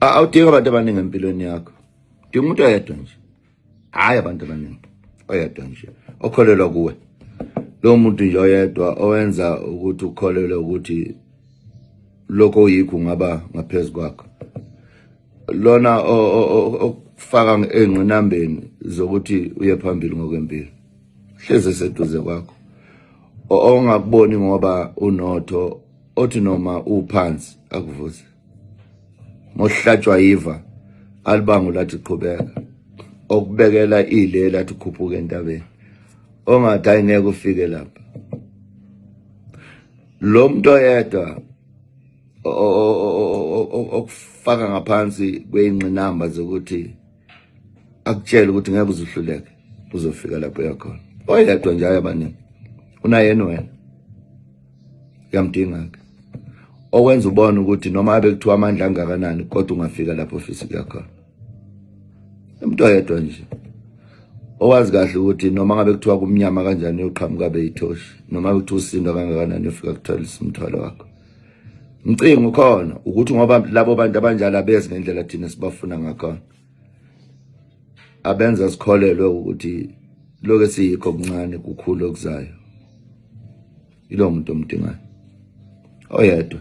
awudingi abantu abaningi empilweni yakho dinga umuntu oyedwa nje hhayi abantu abaningi oyedwa nje okholelwa kuwe lowo muntu nje oyedwa owenza ukuthi ukholelwe ukuthi lokho oyikho ungaba ngaphezu kwakho lona okufaka engqinambeni zokuthi uye phambili ngokwempilo hleze seduze kwakho ongakuboni ngoba unotho othi noma uphansi akuvuze ngohlatshwa yiva alibango lathi qhubeka okubekela ile lathi khuphuka entabeni ongathi ayingeke ufike lapha lo muntu oyedwa okufaka ngaphansi kweyingqinamba zokuthi akutshela ukuthi ngeke uzuhluleke uzofika lapho yakhona oyedwa nje ayabaningi unayena wena uyamdinga ke okwenza ubona ukuthi noma abe kuthiwa amandla angakanani kodwa ungafika lapho ofisa ukuya khona umuntu oyedwa nje owazi kahle ukuthi noma ngabe kuthiwa kumnyama kanjani uyoqhamuka beyithoshi noma ukuthi usindwa kangakanani ufika kuthola isimthwalo wakho Mcingo khona ukuthi ngoba labo bantu abanjalo abezi ngendlela thina sibafuna ngakhona. Abenza sikholelwe ukuthi loke siyikho kuncane kukhulu okuzayo. Ilo muntu omdingayo. Oyedwa.